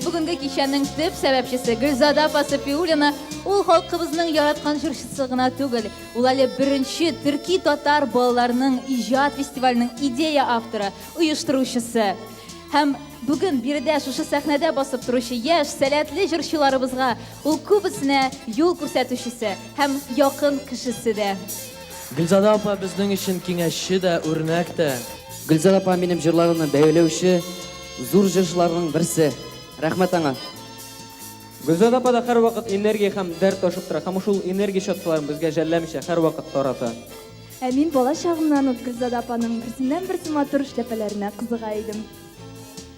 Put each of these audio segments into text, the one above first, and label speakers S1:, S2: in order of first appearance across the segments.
S1: бүгінгі кешенің төп сәбәпшісі Гүлзада Пасапиулина ул халқыбызның яраткан жырчысы гына түгел, ул әле беренче төрки татар балаларының иҗат фестиваленең идея авторы, оештыручысы. Һәм бүген биредә шушы сәхнәдә басып торучы яшь, сәләтле җырчыларыбызга ул күбесенә юл күрсәтүчесе һәм якын кешесе дә. Гөлзада апа
S2: безнең өчен киңәшче дә, үрнәк тә. Гөлзада апа минем
S3: җырларымны бәяләүче зур җырчыларның берсе. Рәхмәт аңа.
S4: Гөлзада апа да һәрвакыт энергия һәм дәрт ташып тора һәм шул энергия чаткыларын безгә жәлләмичә һәрвакыт тарата. Ә мин бала
S5: чагымнан ук Гөлзада апаның берсеннән-берсе матур эшләпәләренә кызыга идем.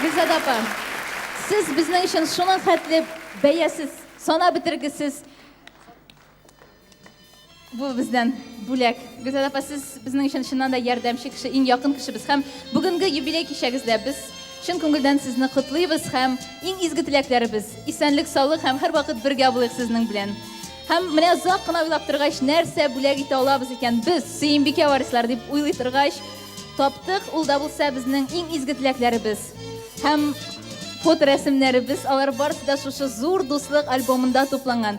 S1: Гөлзада апа, сез безнең өчен шуның хәтле бәясез, санап бетергесез бу бездән бүләк. Гөлзада апа, сез безнең өчен чыннан да ярдәмче кеше, иң якын кешебез һәм бүгенге юбилей кичәгездә без чын күңелдән сезне котлыйбыз һәм иң изге теләкләребез, исәнлек-саулык һәм һәрвакыт бергә булыйк сезнең белән. Һәм менә озак кына уйлап торгач, нәрсә бүләк итә алабыз икән без, Сөембикә варислар дип уйлый торгач, таптык, ул да булса безнең иң изге теләкләребез. Һәм фоторәсемнәребез, алар барысы да шушы зур дуслык альбомында тупланган.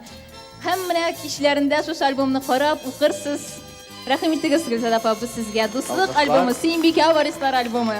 S1: Һәм менә кичләрендә шушы альбомны карап укырсыз. Рәхим итегез, Гөлзада апа, бу сезгә дуслык альбомы, Сөембикә варислар альбомы.